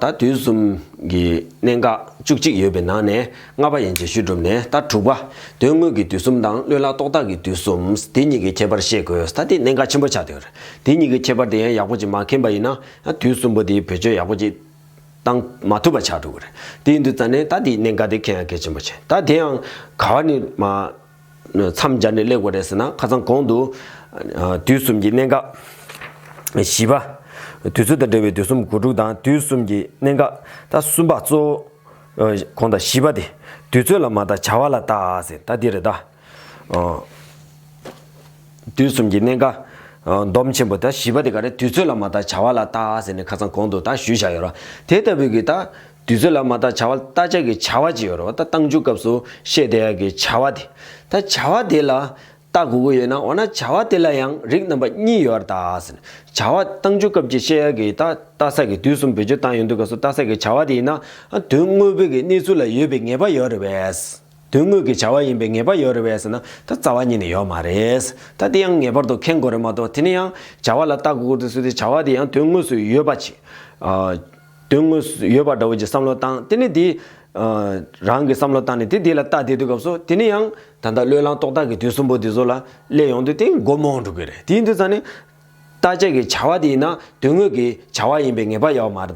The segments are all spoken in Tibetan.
ད་དུས་གསུམ་གྱི་གནད་འགག་བཅུ་གཅིག་ཡོད་པའི་ནང་ནས་ལྔ་པ་ཡན་ཆད་ཞུས་གྲུབ་ནས་ད་དྲུག་པ། དོན་དངོས་ཀྱི་དུས་གསུམ་དང་བློས་བསླངས་རྟོག་བཏགས་ཀྱི་དུས་གསུམ། དེ་གཉིས་ཀྱི་ཁྱད་པར་ཤེས་དགོས་ད་དེ་གནད་འགག་ཆེན་པོ་ཆགས་འདུག་དེ་གཉིས་ཀྱི་ཁྱད་པར་དེ་ཡང་ཡག་པོ་ཅིག་མ་མཁྱེན་པ་ཡིན་ན་དུས་གསུམ་པོ་དེ་བེད་སྤྱོད་ཡག་པོ་ཅིག་བཏང། མ་ཐུབ་པ་ཆགས་འགྲོ་གི་རེད། དེའི་འདི་ཙ་ནས་ད་དེའི་གནད་འགའ་དེ་ཁྱེད་ཡང་གལ་ཆེན་པོ་བྱས། ད་དེ་ཡང་ག་བ་ནི། མཚམས་སྦྱར་ནས་གླེགས་དགོས་རེད་ཟེར་ན་ཁ་ཚང་གོང་དུ། དུས་གསུམ་གྱི་གནད་འགག། བཞི་པ། དུས་ཚོད་དང་འབྲེལ་བའི་དུས་གསུམ་དགུ་ཕྲུགས་དང་དུས་གསུམ་གྱི་གནད་འགག། ད་གསུམ་པ་གཙོ་བོ། གོང་དང་བཞི་པ་དེ། དུས་ཚོད་ལ་མ་བརྟག་བྱ་བ་ལ་བརྟག་ཟེར་ད་དེ་རེད་ད། དུས་གསུམ་གྱི་གནས། སྡོམ་ཆེན་པོ་དང་བཞི་པ་དེ་ག་རེ་དུས་ཚོད་ལ་མ་བརྟགས་བྱ་བ་ལ་བརྟག་ཟེར་ནས་ཁ་ཚང་གོང་དུ་དག་ཞུས་བཞག་ཡོད་རོ། དེ་ལྟ་བུའི་གི་དག། དུས་ཚོད་ལ་མ་བརྟགས་བྱ་བ་ལ་བརྟག་བྱ་གི་བྱ་བ་ཅི་ཡོད་རོ་བརྟག་བཏང་འཇུག་སྐབས་སུ་བཤད་དེ་ཡང་གི་བྱ་བ་དེ། ད་བྱ་བ་དེ་ལ། བརྟག་དགོས་ཀྱི་ཡོད་ན་འོ་ན་བྱ་བ་དེ་ལ་ཡང་རིགས་རྣམ་པ་གཉིས་ཡོད་ར་བརྟག་ཟེར་ནས། བྱ་བ་བཏང་འཇུག་སྐབས་ཀྱི་བཤད་ཡ་གི་དག་བརྟག་ས་གི་དུས་གསུམ་བེད་སྤྱོད་བཏང་ཡོད་འདུག་སྐབས་སུ་བརྟག་ས་གི་བྱ་བ་དེ་ཡིན་ན། དོན་དངོས་པོའི་གི་གནས་ཚུལ་ལ་ཡོད་པའི་ངེས་པ་ཡོད་རེད་བས། དོན་དངོས་ཀྱི་བྱ་བ་ཡིན་པའི་ངེས་པ་ཡོད་རེ་བས་ཟེར་ན་ད་རྩ་བ་ཉིད་ནས་ཡོད་མ་རེད། ད་དེ་ཡང་ངེས་པར་དུ་མཁྱེན་དགོས་རེད་མ་གཏོགས་དེ་ནས་ཡང་བྱ་བ་ལ་ལྟ་དགོས་ཀྱི་སུ་དེ་བྱ་བ་དེ་ཡང་དོན་དངོས་སུ་ཡོད་པ་ཆེ། དོན་དངོས་སུ་ཡོད་པ་འདྲ་བོ་ཅིག་བསམ་བློ་བཏང་དེ་ནས་དེ། རང་གིས་བསམ་བློ་བཏང་ནས་དེ་དེ་ལ་ལྟ་བསྡད་དུས་སྐབས་སུ་དེ་ནས་ཡང་ད་ལྟ་བློས་བླངས་རྟོག་བཏགས་ཀྱི་དུས་གསུམ་པོ་དེ་ཚོ་ལ་སླེབས་ཡོང་དུས་དེ་མགོ་རྨོངས་འགྲོ་གི་རེད་དེ་ཡིན་དུས་ད་ནི། བརྟག་དཔྱད་ཀྱི་བྱ་བ་དེ་ཡིན་ན་དོན་དངོས་ཀྱི་བྱ་བ་ཡིན་པའི་ངེས་པ་ཡོད་པ་མ་རེད།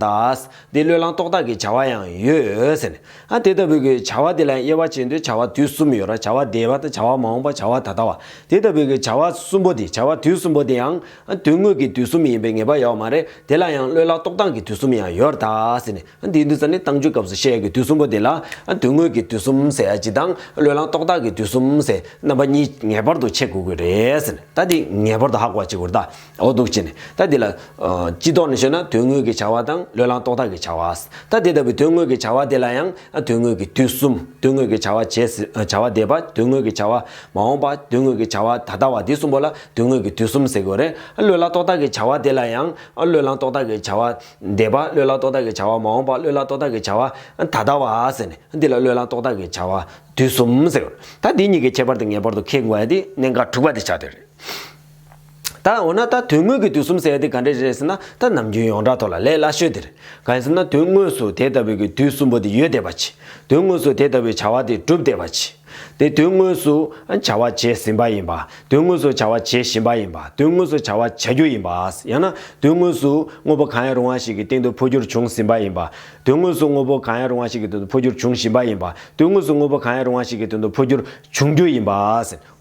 འདི་བློས་བསླང་རྟོག་བཏགས་ཀྱི་བྱ་བ་ཡང་ཡོད། ཨ་དེ་ལྟ་བུའི་གྱི་བྱ་བ་དེ་ལ་དབྱེ་བ་བྱེད་འདོད་བྱ་བ་དུས་གསུམ་ཡོད་ར་བྱ་བ་འདས་པ་དང་བྱ་བ་མ་འོངས་པ་བྱ་བ་ད་ལྟ་བ། དེ་ལྟ་བུའི་གྱི་བྱ་བ་གསུམ་པོ་དེ་བྱ་བ་དུས་གསུམ་པོ་དེ་ཡང། དོན་དངོས་ཀྱི་དུས་གསུམ་ཡིན་པའི་ངེས་པ་ཡོད་པ་མ་རེད་དེ་ལ་ཡང་བློས་བསླང་རྟོག་བཏགས་ཀྱི་དུས་གསུམ་ཡང་ཡོད་ར། འདིའི་དུས་ཚོད་ནི་གཏམ་རྒྱུད་སྐབས་སུ་བཤད་ཡ་གི་དུས་གསུམ་པོ་དེ་ལ། དོན་དངོས་ཀྱི་དུས་གསུམ་ཟེར་ཡ་ཇི་དང། བློས་བསླངས་རྟོག་བཏགས་ཀྱི་དུས་གསུམ་ཟེར། རྣམ་པ་གཉིས་ངེས་པར་དུ་ཕྱེ་དགོས་ཀྱི་རེད། ད་འདི་ངེས་པར་དུ་ཧ་གོ་བ་ཅིག་གོ། འོ་འདུག་ཅེས་ནས། ད་འདི་ལ། སྤྱི་ལྡོག་ནས་ཤོད་ན་དོན་དངོས་ཀྱི་བྱ་བ་དང་བློས་བསླངས་རྟོག་བཏགས་ཀྱི་བྱ་བ། ད་དེ་ལྟ་བུའི་དོན་དངོས་ཀྱི་བྱ་བ་དེ་ལ་ཡང། དོན་དངོས་ཀྱི་དུས་གསུམ། དོན་དངོས་ཀྱི་བྱ་བ་བྱས། བྱ་བ་འདས་པ། དོན་དངོས་ཀྱི་བྱ་བ། མ་འོངས་པ། དོན་དངོས་ཀྱི་བྱ་བ་ད་ལྟ་བ་འདི་གསུམ་པོ་ལ་དོན་དངོས་ཀྱི་དུས་གསུམ་ཟེར་དགོས་རེད། བློས་བསླངས་རྟོག་བཏགས་ཀྱི་བྱ་བ་དེ་ལ་ཡང། བློས་བསླངས་རྟོག་བཏགས་ཀྱི་བྱ་བ། འདས་པ་བློས་བརླག་རྟོག་བཏགས་ཀྱི་བྱ་བ་མ་འོངས་པ་བློས་བརླག་རྟོག་བཏགས་ཀྱི་བྱ་བ། ད་ལྟ་བ། འདི་ལ་བློས་བརླག་རྟོག་བཏགས་ཀྱི་བྱ་བ། དུས་གསུམ། ད་འདི་གཉིས་ཀྱི་ཁྱད་པར་དེ་ངེས་པར་དུ་ཁེགས་དགོས་ཡ་དེ་གནད་འགག་དྲུག་པ་དེ་ཆགས་བསྡད་རེད། ད་འོ་ན་ད་དོན་དངོས་ཀྱི་དུས་གསུམ་ཟེར་ཡ་དེ་ག་འདྲས་རེད་ཟེར་ན་ད་ནམ་རྒྱུན་ཡོངས་གྲགས་ཐོག་ལ་ལས་སླ་ཤོས་དེ་རེད། གང་ཡིན་ཟེར་ན་དོན་དངོས་སུ་དེ་ལྟ་བུའི་གི་དུས་གསུམ་པོ་དེ་ཡོད་བསྡད་པ་གྱིས། དོན་དངོས་སུ་དེ་ལྟ་བུའི་བྱ་བ་དེ་གྲུབ་བསྡད་པ་གྱིས། དེ་དོན་དངོས་སུ་བྱ་བ་བྱས་ཟིན་པ་ཡིན་པ། དོན་དངོས་སུ་བྱ་བ་བྱེད་བཞིན་པ་ཡིན་པ། དོན་དངོས་སུ་བྱ་བ་བྱ་རྒྱུ་ཡིན་པ། ཡང་ན། དོན་དངོས་སུ་དངོས་པོ་གང་ཡང་རུང་བ་ཞིག་གི་སྟེང་དུ་འཕོ་འགྱུར་བྱུང་ཟིན་པ་ཡིན་པ། དོན་དངོས་སུ་དངོས་པོ་གང་ཡང་རུང་བ་ཞིག་གི་དོན་དུ་འཕོ་འགྱུར་འབྱུང་བཞིན་པ་ཡིན་པ། དོན་དངོས་སུ་དངོས་པོ་གང་ཡང་རུང་བ་ཞིག་གི་དོན་དུ་འཕོ་འགྱུར་འབྱུང་རྒྱུ་ཡིན་པ།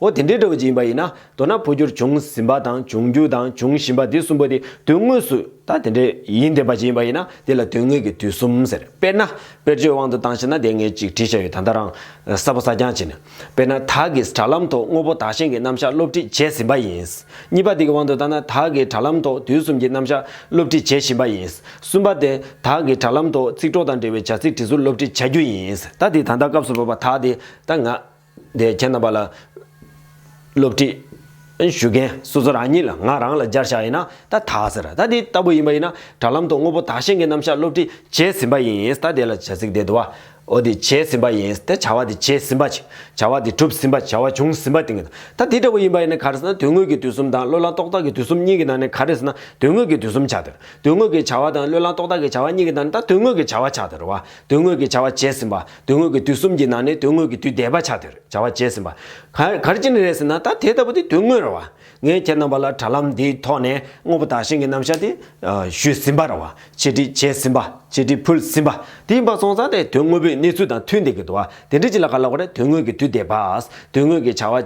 འོ་དེ་འདྲའི་སྒྲ་བོ་ཅི་ཡིན་པ་ཡིན་ན། མདོར་ན་འཕོ་འགྱུར་འབྱུང་ཟིན་པ་དང་འབྱུང་རྒྱུ་དང་འབྱུང་བཞིན་པ་འདི་གསུམ་པོ་དེ་དོན་དངོས་སུ་ད་དེ་འདྲའི་ཡིན་དེ་འབའ་ཞིག་ཡིན་པ་ཡིན་ན་དེ་ལ་དོན་དངོས་ཀྱི་དུས་གསུམ་ཟེར། དཔེར་ན། དཔེར་བརྗོད་དབང་དུ་བཏང་ཤེ་ན་དེ་ངས་ཅིག་བྲིས་བཞག་ཡོད་ད་ལྟ་རང། གསར་བུ་གསར་རྐྱང་བྱས་ནས། དཔེར་ན་དྭགས་ཀྱིས་དྲ་ལམ་ཐོག་དངོས་པོ་དག་ཞིང་གི་རྣམ་གཞག་སློབ་ཁྲིད་བྱས་ཟིན་པ་ཡིན། གཉིས་པ་དེ་གི་དབང་དུ་བཏང་ན་དྭགས་ཀྱིས་དྲ་ལམ་ཐོག་དུས་གསུམ་གྱི་རྣམ་གཞག་སློབ་ཁྲིད་བྱེད་བཞིན་པ་ཡིན། གསུམ་པ་དེ། དྭགས་ཀྱིས་དྲ་ལམ་ཐོག་ཚིག་གྲོགས་དང་འབྲེལ་བའི་བྱ་ཚིག་བྲིས་ཚུལ་སློབ་ཁྲིད་བྱ་རྒྱུ་ཡིན། ད་དེ་ད་ལྟ་སྐབས་སུ་བབས་པ་དག་དེ་ད་ང། དེ་ཁྱེད་རྣམ་པ་ལ། སློབ་ཁྲིད། ཞུ་མཁན་སོ་སོ་རང་ཉིད་ལ་ང་རང་ལ་སྦྱར་བཞག་ཡིན་ན་ད་དག་ཟེར། ད་དེ་ལྟ་བུ་ཡིན་པ་ཡིན་ན་དྲ་ལམ་དུ་དངོས་པོ་དག་ཞིང་གི་རྣམ་གཞག་སློབ་ཁྲིད་བྱས་ཟིན་པ་ཡིན་ད་དེ་ལ་བྱ་ཚིག་དེ་དུ་བ། འོ་དེ་བྱས་ཟིན་པ་ཡིན་ད་བྱ་བ་དེ་བྱས་ཟིན་པ། བྱ་བ་དེ་གྲུབ་ཟིན་པ་བྱ་བ་བྱུང་ཟིན་པ་དེ་ངེས། ད་དེ་ལྟ་བུ་ཡིན་པ་ཡིན་ན་ག་རེ་ཟེར་ན་དོན་དངོས་ཀྱི་དུས་གསུམ་དང་བློས་བསླང་རྟོག་བཏགས་ཀྱི་དུས་གསུམ་གཉིས་ཀྱི་ནང་ནས་ག་རེ་ཟེར་ན་དོན་དངོས་ཀྱི་དུས་གསུམ་ཆགས་སྡོད། དོན་དངོས་ཀྱི་བྱ་བ་དང་བློས་བསླང་རྟོག་བཏགས་ཀྱི་བྱ་བ་གཉིས་ཀྱི་ནང་ནས་ད་དོན་དངོས་ཀྱི་བྱ་བ་ཆགས་སྡོད་རུང་བ། དོན་དངོས་ཀྱི་བྱ་བ་བྱས་ཟིན་པ། དོན་དངོས་ཀྱི་དུས་གསུམ་གྱི་ནང་ནས་དོན་དངོས་ཀྱི་དུས་འདས་པ་ཆགས་དེར་བྱ་བ་བྱས་ཟིན་པ། གར་ཅི་ནས་རེད་ཟེར་ན་ད་དེ་ལྟ་བུ་དེ་དོན་དངོས་རེད་བ། ངས་ཁྱེད་རྣམ་པ་ལ་དྲ་ལམ་འདིའི་ཐོག་ནས་དངོས་པོ་དག་ཞིང་གི་རྣམ་བཞག་དེ། ཞུས་ཟིན་པ་རེད་བ། ཆེད་བསྒྲིགས་བྱས་ཟིན་པ། ཆེད་བསྒྲིགས་ཕུལ་ཟིན་པ། དེ་ཡིན་པ་སོང་ཙང་དེ་དོན་དངོས་པོའི་གནས་ཚུལ་དང་མཐུན་བསྡད་ཀྱི་འདུག་བ། དེ་འདྲ་ཅི་ལ་ག་ལ་བ་རེད་དོན་དངོས་ཀྱི་དུས་འདས་པ། དོན་དངོས་ཀྱི་བྱ་བ།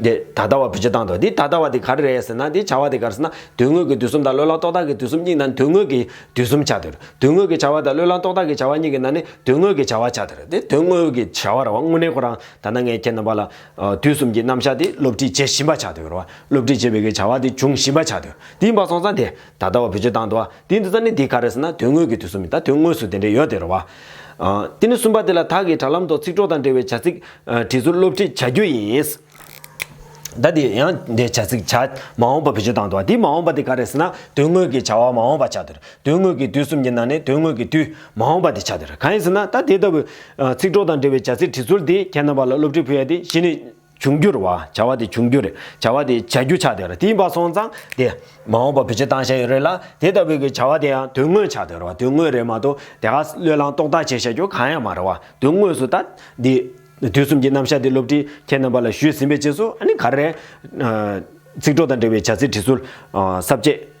འདི་ད་ལྟ་བ་བུ་སྤྱི་དང་དོ། འདི་ད་ལྟ་བ་འདི་ག་རེ་རེད་ཟེར་ན་འདི་བྱ་བ་འདི་གར་ཟེར་ན་དོན་དངོས་ཀྱི་དུས་གསུམ་དང་བློས་བསླངས་རྟོག་བཏགས་ཀྱི་དུས་གསུམ་གཉིས་ནང་དོན་དངོས་ཀྱི་དུས་གསུམ་བྱ་འདིར་དོན་དངོས་ཀྱི་བྱ་བ་དང་བློས་བསླངས་རྟོག་བཏགས་ཀྱི་བྱ་བ་གཉིས་ཀྱི་ནང་ནི་དོན་དངོས་ཀྱི་བྱ་བ་བྱ་འདིར་འདི་དོན་དངོས་ཀྱི་བྱ་བ་ར་བ་དངོས་གནས་ཁོ་རང་ད་ལྟ་ངས་ཁྱེད་རྣམ་པ་ལ་དུས་གསུམ་གྱི་རྣམ་གཞག་འདི་སློབ་ཁྲིད་བྱེད་བཞིན་པ་བྱ་འདིར་བ་སློབ་ཁྲིད་བྱེད་པའི་ཀྱི་བྱ་བ་འདི་འབྱུང་བཞིན་པ་བྱ་འདིར་འདི་ཡིན་པ་སོང་ཙང་འདི་ད་ལྟ་བ་བུ་སྤྱི་དང་དོ། དེའི་འདི་ཙམ་ནི་དེ་ག་རེ་ཟེར་ན་དོན་དངོས་ཀྱི་དུས་སུ་མིན་ད་དོན་དངོས་སུ་དེ་འདྲ་ཡོད་དེ་རེད་བ། དེ་ནི་གསུམ་པ་དེ་ལ་དྭགས་ཀྱི་དྲ་ལམ་ཐོག་ཚིག་གྲོགས་དང་འབྲེལ་བའི་བྱ་ཚིག། བྲིས་ཚུལ་སློབ་ཁྲིད་བྱ་རྒྱུ་ཡིན། ད་དེ་ཡང་དེ་བྱ་ཚིག་བྱ། མ་འོངས་པ་བེད་སྤྱོད་བཏང་འདུག་བ་དེའི་མ་འོངས་པ་དེ་ག་རེ་ཟེར་ན་དོན་དངོས་ཀྱི་བྱ་བ་མ་འོངས་པ་བྱ་དེར་དོན་དངོས་ཀྱི་དུས་གསུམ་གྱི་ནང་ནས་དོན་དངོས་ཀྱི་དུས། མ་འོངས་པ་དེ་བྱ་དེར་གང་ཡིན་ཟེར་ན་ད་དེ་ལྟ་བུ། ཚིག་གྲོགས་དང་འབྲེལ་བའི་བྱ་ཚིག་བྲིས་ཚུལ་དེ་ཁྱེད་རྣམ་པ་ལ་སློབ་ཁྲིད་ཕུལ་ཡ་དེ་གཞི་ནས། འབྱུང་འགྱུར་བ། བྱ་བ་དེ་འབྱུང་འགྱུར་རེད། བྱ་བ་དེ་བྱ་རྒྱུ་ཆགས་སྡོད་རེད། དེ་ཡིན་པ་སོང་ཙང་དེ། མ་འོངས་པ་བུ་ཆེ་བཏང་ཤ་ཡོད་རེད་ལ། དེ་ལྟ་བུའི་གི་བྱ་བ་དེ་ཡང་དོན་དངོས་ཆགས་སྡོད་རེད། དོན་དངོས་རེད་མ་གཏོགས་དེ་ག་བློས་བསླངས་རྟོགས་བཏགས་བྱས་བཤད་རྒྱུ་གང་ཡང་མ་རེད་བ། དོན་དངོས་སུ་ད། འདི། དུས་གསུམ་གྱི་རྣམ་གཞག་འདི་སློབ་ཁྲིད་ཁྱེད་རྣམ་པ་ལ་ཞུས་ཟིན་པའི་རྗེས་སུ་ཨ་ནི་ག་རེ། ཚིག་གྲོགས་དང་འབྲེལ་བའི་བྱ་ཚིག་བྲིས་ཚུལ། ཟབ་རྒྱས།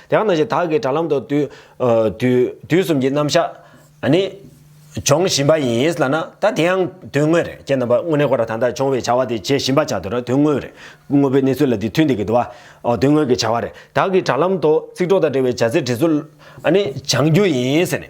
དེ་ཡང་ན་བཞིན་དག་གི་དྲ་ལམ་དུ་དུས་གསུམ་གྱི་རྣམ་བཞག་ནི། སྦྱོང་བཞིན་པ་ཡིན་ལ་ན་ད་དེ་ཡང་དོན་དངོས་རེད་ཅེས་ན་བ་དངོས་གནས་ཁོ་ར་ད་ལྟ་སྦྱོང་བའི་བྱ་བ་དེ་བྱེད་བཞིན་པ་བྱ་དུ་ར་དོན་དངོས་རེད་དངོས་པོའི་གནས་ཚུལ་ལ་དེ་མཐུན་དེ་གི་དུ་བ་དོན་དངོས་ཀྱི་བྱ་བ་རེད་དག་གི་དྲ་ལམ་དུ་ཚིག་གྲོགས་དང་འབྲེལ་བའི་བྱ་ཚིག་བྲིས་ཚུལ་ནི་སྦྱང་རྒྱུ་ཡིན་ཟེར་ནས།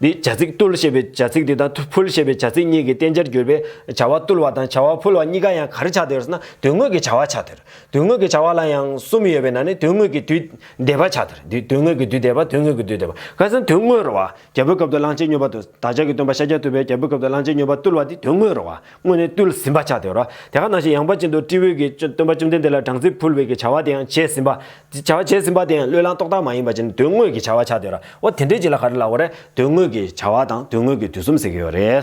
འདིས་བྱ་ཚིག་བཏུལ་ཞེས་པའི་བྱ་ཚིག་དེ་དང་ཕུལ་ཞེས་པའི་བྱ་ཚིག་གཉིས་ཀྱི་བསྟན་བྱར་གྱུར་པས་བྱ་བ་བཏུལ་བ་དང་བྱ་བ་ཕུལ་བ་གཉིས་ཀ་ཡང་གར་ཆགས་སྡེར་ན་དོན་དངོས་ཀྱི་བྱ་བ་ཆགས་སྡེར་དོན་དངོས་ཀྱི་བྱ་བ་ལ་ཡང་གསུམ་ཡོད་པས་ན་ནི་དོན་དངོས་ཀྱི་དུས་འདས་པ་ཆགས་སྡེར་དུས་དོན་དངོས་ཀྱི་དུས་འདས་པ་དོན་དངོས་ཀྱི་དུས་འདས་པ་ཁ་སང་དོན་དངོས་རོལ་བ་རྒྱལ་པོའི་སྐབས་དུ་གླང་ཆེན་སྨྱོས་པ་དུ་བདག་ཅག་གི་སྟོན་པ་ཤཱཀྱ་ཐུབ་པས་རྒྱལ་པོའི་སྐབས་དུ་གླང་ཆེན་སྨྱོས་པ་བཏུལ་བ་འདི་དོན་དངོས་རོལ་བ་དངོས་ནས་བཏུལ་ཟིན་པ་ཆགས་སྡེར་རོ། དེ་ག་ནང་བཞིན་ཡངས་པ་ཅན་དུ་སྤྲེའུས་ཀྱི་སྟོན་པ་བཅོམ་ལྡན་འདས་ལ་སྦྲང་རྩི་ཕུལ་བའི་ཀྱི་བྱ་བ་དེ་ཡང་བྱས་ཟིན་པ་བྱ་བ་བྱས་ཟིན་པ་དེ་ཡང་བློས་བསླངས་རྟོག་བཏགས་མ་ཡིན་པ་བྱས་ནས་དོན་དངོས་ཀྱི་བྱ་བ་བྱ་འདོད་ར་བ་དེ་འདྲའི་རྗེས་ལ་ག་རེ་ལ་བ་རེད་དོན་དངོས་ཀྱི་བྱ་བ་དང་དོན་དངོས་ཀྱི་དུས་གསུམ་ཟེར་གྱི་ཡོད་རེད།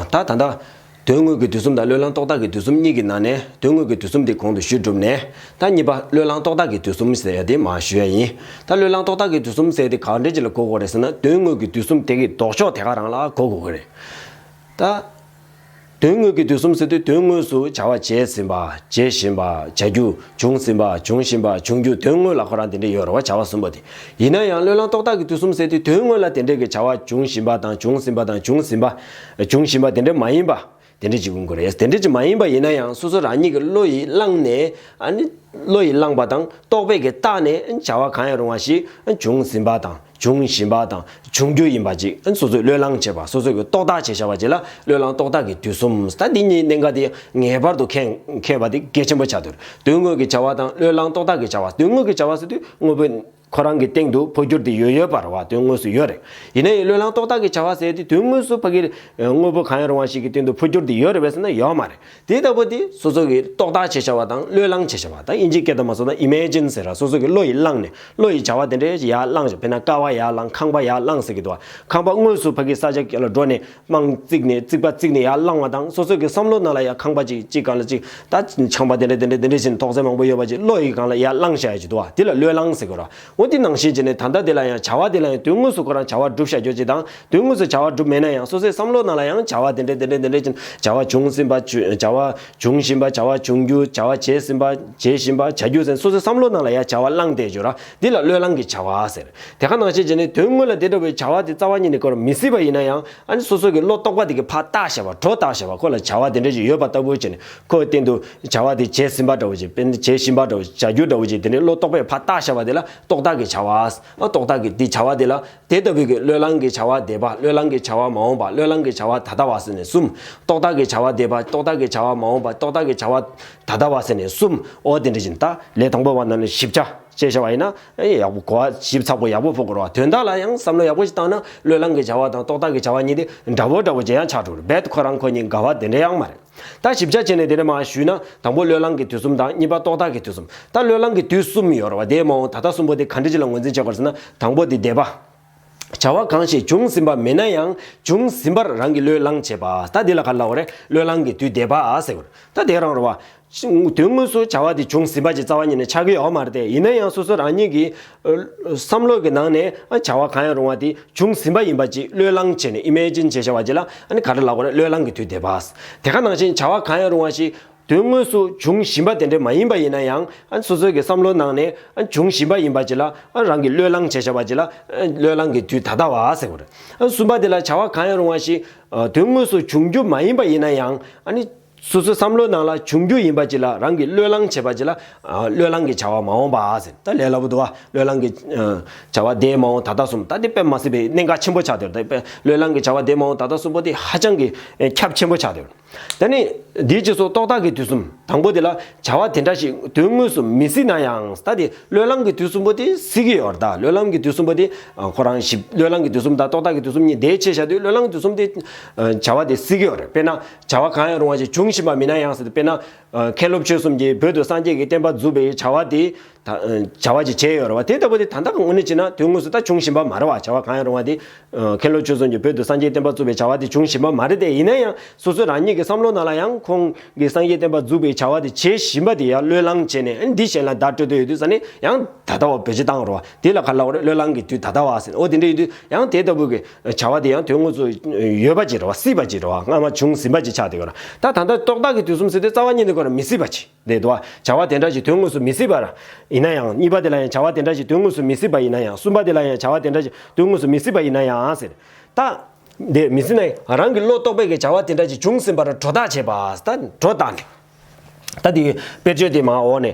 ད་ད་ལྟ། དོན་དངོས་ཀྱི་དུས་གསུམ་དང་བློས་བསླངས་རྟོག་བཏགས་ཀྱི་དུས་གསུམ་གཉིས་ཀྱི་ནང་ནས་དོན་དངོས་ཀྱི་དུས་གསུམ་དེ་གོང་དུ་ཞུས་གྲུབ་ནས། ད་གཉིས་པ་བློས་བསླངས་རྟོག་བཏགས་ཀྱི་དུས་གསུམ་ཟེར་ཡ་དེ་མ་ཞུས་ཡ་ཡིན། ད་བློས་བསླངས་རྟོག་བཏགས་ཀྱི་དུས་གསུམ་ཟེར་དེ་གང་འདྲའི་རྗེས་ལ་གོ་དགོས་རེད་ཟེར་ན་དོན་དངོས་ཀྱི་དུས་གསུམ་དེ་གི་ལྡོག་ཕྱོགས་དེ་ག་རང་ལ་གོ་དགོས་ཀྱི་རེད། ད། དོན་དངོས་ཀྱི་དུས་གསུམ་ཟེར་དུས་དོན་དངོས་སུ་བྱ་བ་བྱས་ཟིན་པ། བྱེད་བཞིན་པ། བྱ་རྒྱུ། བྱུང་ཟིན་པ། འབྱུང་བཞིན་པ། འབྱུང་རྒྱུ་དོན་དངོས་ལ་ཁོ་རང་དེ་འདྲས་ཡོད་རེ་བ་བྱ་བ་གསུམ་པོ་དེ། ཡིན་ན་ཡང་བློས་བསླངས་རྟོག་བཏགས་ཀྱི་དུས་གསུམ་ཟེར་དུས་དོན་དངོས་ལ་དེ་འདྲས་ཀྱི་བྱ་བ་འབྱུང་བཞིན་པ་དང་བྱུང་ཟིན་པ་དང་འབྱུང་ཟིན་པ། འབྱུང་བཞིན་པ་དེ་འདྲས་མ་ཡིན་པ། དེ་འདྲས་ཅིག་ཡིན་དགོས་རེད། དེ་འདྲས་ཅིག་མ་ཡིན་པ་ཡིན་ན་ཡང་སོ་སོ་རང་ཉིད་ཀྱི་བློ་ཡིས་བསླངས་ནས། བློ་ཡིས་བསླངས་པ་དང་རྟོག་པས་ཀྱི་བཏགས་ནས་བྱ་བ་གང་ཡང་རུང་བ་ཞིག་འབྱུང་ཟིན་པ་དང། འབྱུང་བཞིན་པ་དང་འབྱུང་རྒྱུ་ཡིན་པ་གཅིག་སོ་སོས་བློས་བསླངས་བྱས་པ་སོ་སོས་རྟོག་བཏགས་བྱས་བྱ་བ་གཅིག་ལ་བློས་བསླངས་རྟོག་བཏགས་ཀྱི་དུས་གསུམ་ཟད་འདི་གཉིས་གནད་འགག་སྟེ་ངེས་པར་དུ་མཁས་པ་དེ་གལ་ཆེན་པོ་བྱ་འདུལ་དོན་དངོས་ཀྱི་བྱ་བ་དང་བློས་བསླངས་རྟོག་བཏགས་ཀྱི་བྱ་བ་དོན་དངོས་ཀྱི་བྱ་བ་སོ་དུས་དངོས་པོ་ཁོ་རང་གི་སྟེང་དུ་འཕོ་འགྱུར་དེ་ཡོད་ཡོད་པར་བ་དོན་དངོས་སུ་ཡོད་རེད་ཡིན་ན་ཡང་བློས་བསླངས་རྟོག་བཏགས་ཀྱི་བྱ་བ་ཟད་དེ་དོན་དངོས་སུ་ཕ་གིར་དངོས་པོ་གང་ཡང་རུང་བ་ཞིག་གི་སྟེང་དུ་འཕོ་འགྱུར་དེ་ཡོད་རེད་བས་སོ་ན་ཡོད་མ་རེད། དེ་ལྟ་བུ་དེ་སོ་སོ་གི་རྟོག་བཏགས་ཅེས་བྱ་བ་དང་བློས་བསླང་ཅེས་བྱ་བ་དང་དབྱིན་ཇིའི་སྐད་དུ་མ་སོ་ན Imagine ཟེར་ར་སོ་སོ་གི་བློ་ཡིས་བསླངས་ནས་བློ་ཡིས་བྱ་བ་དེ་འདྲའི་ཡར་བསླངས་བྱ་བས་ན་ཀ་བ་ཡར་བསླངས་ཁང་པ་ཡར་བསླངས་ཟེར་གི་འདུག་བ་ཁང་པ་དངོས་སུ་ཕ་གིའི་ས་ཆ་ག་ལ་འགྲོ་ནས་རྨང་བརྩིགས་ནས་བརྩིགས་པ་བརྩིགས་ནས་ཡར་བསླངས་བ་དང་སོ་སོ་གི་བསམ་བློ་རྣ་ལ་ཡར་ཁང་པ་ཅིག་གཅིག་གང་ལ་གཅིག་ད་ཆང་པ་དེ་འདྲ་དེ་འདྲ་དེ་འདྲ་བཞིན་དོགས་ཟས་མང་པོ་ཡོད་པ་ཅིག་བློ་ཡིས་གང་ལ་ཡར་བསླངས་བྱ་ཡོད་ཀྱི་འདུག་བ་དེ་ལ་བློས་བསླངས་ཟེར་གི་རོ་འོ་དེ་ནང་བཞིན་བྱས་ནས་ད་ལྟ་དེ་ལ་ཡང་བྱ་བ་དེ་ལ་ཡང་དོན་དངོས་སུ་ཁོ་རང་བྱ་བ་བསྒྲུབ་བྱ་རྒྱོ་བྱེད་དང་དོན་དངོས་སུ་བྱ་བ་བསྒྲུབ་མེད་ན་ཡང་སོ་སོའི་བསམ་བློ་ནང་ལ་ཡང་བྱ་བ་དེ་འདྲའི་དེ་འདྲའི་དེ་འདྲའི་ཅན་བྱ་བ་བྱུང་ཟིན་པ་བྱ་བ་འབྱུང་བཞིན་པ་བྱ་བ་འབྱུང་རྒྱུ་བྱ་བ་བྱས་ཟིན་པ་བྱེད་བཞིན་པ་བྱ་རྒྱུ་ཟེན་སོ་སོའི་བསམ་བློ་ནང་ལ་ཡང་བྱ་བ་བླངས་ཏེ་བརྗོད་ན་འདི་ལ་བློས་བསླང་གི་བྱ་བ་ཟེར། དེ་ག་ནང་བཞིན་བྱས་ནས་དོན་དངོས་ལ་དེ་འདྲ་བའི་བྱ་བ་དེ་རྩ་བ་ཉིད་ནས་བཀོལ་བར་མི་སྲིད་པ་ཡིན་ན་ཡང་ཨ་ནི་སོ་སོ་གི་བློ་རྟོག་པ་དེ་གི་ཕ་རྟགས་ཞེས་པ་གྲོགས་རྟགས་ཞེས་པ་ཁོ་ལ་བྱ་བ་དེ་འདྲ་ཞིག་ཡོད་པ་ལྟ་བུ་བྱས་ནས་ཁོའི་སྟེང་དུ་བྱ་བ་དེ་བྱས་ཟིན་པ་འདྲ་བོ་ཅིག་བྱས་བཞིན་པ་འདྲ་བོ་ཅིག་བྱ་རྒྱུ་འདྲ་བོ་ཅིག་དེ་ནི་བློ་རྟོག་པས་ཕ་རྟགས་ཞེས་པ་དེ་ལ་རྟོག་བཏགས་ཀྱི་བྱ་བ། རྟོག་བཏགས་ཀྱི་དེ་བྱ་བ་དེ་ལ། དེ་ལྟ་བུའི་གི་བློས་བསླང་གི་བྱ་བ་འདས་པ་བློས་བསླང་གི་བྱ་བ་མ་འོངས་པ་བློས་བསླང་གི་བྱ་བ་ད་ལྟ་བ་ཟེར་ནས་གསུམ། རྟོག་བཏགས་ཀྱི་བྱ་བ་འདས་པ་རྟོག་བཏགས་ཀྱི་བྱ་བ་མ་འོངས་པ་རྟོག་བཏགས་ཀྱི་བྱ་བ་ད་ལྟ་བ་ཟེར་ནས་གསུམ། ཨོ་དེ་འདྲ་ཞིག་ད། ལས་དང་པོ་བ་རྣམས་ལ་ཞིབ་ཆ། ཅེས་བྱ་བ་ཡིན་ན། ཨེ་ཡག་པོ་གོ་བ་ཞིབ་ཚགས་པོ་ཡག་པོ་ཕོག་དགོས་རོགས་ཨ་དོན་དག་ལ་ཡང་བསམ་བློ་ཡག་པོ་ཞིག་བཏང་ན་བློས་བསླང་གི་བྱ་བ་དང་རྟོག་བཏགས་ཀྱི་བྱ་བ་གཉིས་དེ་འདྲ་བོ་འདྲ་བོ་ཅིག་ཡང་ཆགས་འགྲོ་རེད་ཁོ་རང་ཁོ་གཉིས་དགའ་བ་དེ་འདྲ་ཡང་མ་རེད། ད་ཞིབ་ཆ་བྱས་ནས་དེ་འདྲ་མ་ཞུས་ན་དང་པོ་བློས་བསླངས་ཀྱི་དུས་གསུམ་དང་གཉིས་པ་རྟོག་བཏགས་ཀྱི་དུས་གསུམ། ད་བློས་བསླངས་ཀྱི་དུས་གསུམ་ཡོད་ར་བ་དེའི་མ་འོངས་ད་ལྟ་གསུམ་པོ་དེ་ག་འདྲ་ཅི་ལ་ངོས་འཛིན་བྱེད་པར་ཟེར་ན་དང་པོ་དེ་འདས་པ། བྱ་བ་གང་ཞིག་བྱུང་ཟིན་པ་མེད་ན་ཡང་བྱུང་ཟིན་པར་རང་གིས་བློས་བསླངས་བྱེད་པ། ད་དེ་ལ་ག་ལ་འོ་རེད་བློས་བསླངས་ཀྱི་དུས་འདས་པ་ཟེར་དགོས་ར་ད་དེ་རང་ར་བ། དོན་དངོས་སུ་བྱ་བ་དེ་བྱུང་ཟིན་པ་ཅིག་རྩ་བ་ཉིད་ནས་ཆགས་ཀྱི་ཡོད་མ་རེད་དེ་ཡིན་ན་ཡང་སོ་སོ་རང་ཉིད་ཀྱིས་བསམ་བློ་གི་ནང་ནས་བྱ་བ་གང་ཡང་རུང་བ་དེ་བྱུང་ཟིན་པ་ཡིན་པ་ཅིག་བློས་བསླངས་བྱས་ནས Imagine བྱེད་བྱ་བ་ཅིག་ལ་ག་འདྲ་ལགས་པ་ནི་བློས་བསླངས་ཀྱི་དུས་དེ་བས་དེ་ག་ནང་བཞིན་བྱ་བ་གང་ཡང་རུང་བ་ཞིག་དོན་དངོས་སུ་བྱུང་བཞིན་པ་དེ་འདྲ་མ་ཡིན་པ་ཡིན་ན་ཡང་སོ་སོའི་གི་བསམ་བློའི་ནང་ནས་བྱུང་བཞིན་པ་ཡིན་པ་ཅིག་ལ་རང་གིས་བློས་བསླངས་བྱེད་བྱ་བ་ཅིག་ལ་བློས་བསླངས་ཀྱི་དུས་ད་ལྟ་བ་ཟེར་བ་རེད། གསུམ་པ་དེ་ལ་བྱ་བ་གང་ཡང་རུང་བ་ཞིག་དོན་དངོས་སུ་བྱུང་རྒྱུ་མ་ཡིན་པ་ཡིན་ན་ཡང། སོ་སོའི་བསམ་བློའི་ནང་ལ་འབྱུང་རྒྱུ་ཡིན་པ་གཅིག་ལ་རང་གིས་བློས་བསླང་བྱེད་པ་གཅིག་ལ། བློས་བསླང་གི་བྱ་བ་མ་འོངས་པ་ཟེར་ད་ལས་སླ་པོ་འདུག་ཨ། བློས་བསླང་གི། བྱ་བ་དེའི་མ་འོངས་ད་ལྟ་གསུམ་ད་དེ་དཔེ་མ་སྲིད་པའི་གནད་འགག་ཆེན་པོ་ཆགས་འདོད་ད་དཔེ་བློས་བསླང་གི་བྱ་བ་དེའི་མ་འོངས་ད་ལྟ་གསུམ་པོ་དེ་ཧ་ཅང་གི་ཁྱབ་ཆེན་པོ་ཆགས་འདོད། ད་ནི། འདིའི་སྤྱི་སོགས་རྟོག་བཏགས་ཀྱི་དུས་གསུམ་དང་པོ་དེ་ལ་བྱ་བ་དེ་འདྲ་ཞིག་དོན་དངོས་སུ་མི་སྲིད་ན་ཡང་ད་དེ་བློས་བསླང་གི་དུས་གསུམ་པོ་དེ་སྲིད་ཀྱི་ཡོད་ད་བློས་བསླང་གི་དུས་གསུམ་པོ་དེ་ཁོ་རང་ཞིབ་བློས་བསླང་གི་དུས་གསུམ་དང་རྟོག་བཏགས་ཀྱི་དུས་གསུམ་གཉིས་བདེ་ཕྱེད་བྱ་དུས་བློས་བསླང་གི་དུས་གསུམ་དེ་བྱ་བ་དེ་སྲིད་ཀྱི་ཡོད་རེད་དཔེར་ན། བྱ་བ་གང་ཡང་རུང་བ་ཞིག་འབྱུང་བཞིན་པ་མིན་ན་ཡང་སྲིད་དོ། དཔེར་ན། མཁས་སློབ་ཆོས་གསུམ་གྱིས་བོད་དུ་སངས་རྒྱས་ཀྱི་བསྟན་པ་འཛུགས་པའི་བྱ་བ་དེ། བྱ་བ་ཞིག་བྱས་ཡོད་རེད་བ། དེ་ལྟ་བུ་དེ་ད་ལྟ་དངོས་གནས་བྱེད་ན་དོན་དངོས་སུ་ད་འབྱུང་བཞིན་པ་མ་རེད་བ། བྱ་བ་གང་ཡང་རུང་བ་དེ། མཁས་སློབ་ཆོས་གསུམ་གྱིས་བོད་དུ་སངས་རྒྱས་བསྟན་པ་བཙུགས་པའི་བྱ་བ་དེ་འབྱུང་བཞིན་པ་མ་རེད་དེ་ཡིན་ན་ཡང་སོ་སོས་རང་ཉིད་ཀྱི་བསམ་བློ་ནང་ལ་ཡང་ཁོང་གིས་སངས་རྒྱས་བསྟན་པ་འཛུགས་པའི་བྱ་བ་དེ་བྱེད་བཞིན་པ་དེ་ཡང་བློས་བསླངས་བྱས་ནས་འདི་གཞན་ལ་བརྡ་སྤྲོད་འདོད་ཡོད་དུས་ས་ནས་ཡང་ད་ལྟ་བ་བོད་སྤྱི་བཏང་རོགས། དེ་ལ་ག་ལ་བ་རེད་བློས་བསླངས་ཀྱི་དུས་ད་ལྟ་བ་ཟེར་ཨོ་དེ་འདྲ་ཡོད་དུས་ཡང་དེ་ལྟ་བུ་གི། བྱ་བ་དེ་ཡང་དོན་དངོས་སུ་ཡོད་པ་ཅི་རེད་བ་སྲིད་པ་ཅི་རེད་བ་སྔ་མ་བྱུང་ཟིན་པ་ཅི་ཆགས་འདི་གོ་ར་ད་ད་ལྟ་རྟོག་བཏགས་ཀྱི་དུས་གསུམ་ཟེར་ཏེ་རྩ་བ་ཉིད་འདི་གོ་ར་མི་སྲིད་པ་ཅི་རེད་བ་བྱ་བ་དེ་འདྲ་ཞིག་དོན་དངོས་སུ་མི་སྲིད་པ་ར་ཡིན་ན་ཡང་གཉིས་པ་དེ་ལ་ཡང་བྱ་བ་དེ་འདྲ་ཞིག་དོན་དངོས་སུ་མི་སྲིད་པ་ཡིན་ན་ཡང་གསུམ་པ་དེ་ལ་ཡང་བྱ་བ་དེ་འདྲ་ཞིག་དོན་དངོས་སུ་མི་སྲིད་པ་ཡིན་ན་ཡང་ཟེར་ད། འདི་མི་སྲིད་ན་ཡང་རང་གི་བློ་རྟོག་པས་ཀྱི་བྱ་བ་དེ་འདྲ་ཞིག་བྱུང་ཟིན་པ་ར་གྲོ་བཏགས་བྱས་པ་ད་གྲོ་བཏགས་འདི། ད་འདི་དཔེར་བརྗོད་དེ་མ་འོག་ནས།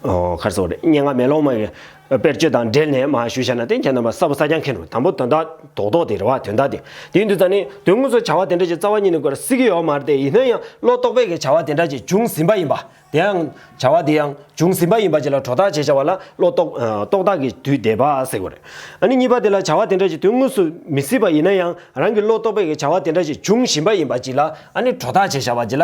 ཁར་སོགས་རེད་སྙན་ངག་མེ་ལོང་མ། དཔེར་བརྗོད་དང་འབྲེལ་ནས་མ་ཞུ་བྱས་ན་ཏན་གྱི་རྣམ་པ་གསར་བུ་གསར་རྐྱང་མཁན་རུ་དང་པོ་དོན་དག་དོག་དོག་དེ་རེ་བ་དོན་དག་དེ་དེའི་འདུས་རྩ་ནི་དོན་དངོས་སུ་བྱ་བ་དེ་འདྲ་ཅིག་རྩ་བ་ཉིད་ནས་དགོས་ར་སྲིད་ཀྱི་ཡོག་མ་རེད་དེ་ཡིན་ན་ཡང་བློ་རྟོག་པས་ཀྱི་བྱ་བ་དེ་འདྲ་ཅིག་འབྱུང་ཟིན་པ་ཡིན་པ། དེའང། བྱ་བ་དེ་ཡང་འབྱུང་ཟིན་པ་ཡིན་པ་ཅིག་ལ་གྲོ་བརྡག་བྱེད་བྱ་བ་ལ་བློ་རྟོག། རྟོག་བརྡག་གི་དུས་འདས་པ་ཟེར་དགོས་རེད། ཨ་ནི་གཉིས་པ་དེ་ལ་བྱ་བ་དེ་འདྲ་ཅིག་དོན་དངོས་སུ་མི་སྲིད་པ་ཡིན་ན་ཡང་རང་གི་བློ་རྟོག་པས་ཀྱི་བྱ་བ་དེ་འདྲ་ཅིག་འབྱུང་བཞིན་པ་ཡིན་པ་ཅིག་ལ་ཨ་ནི་གྲོ་བརྡག་བྱེད་བྱ་བ་ཅིག་ལ་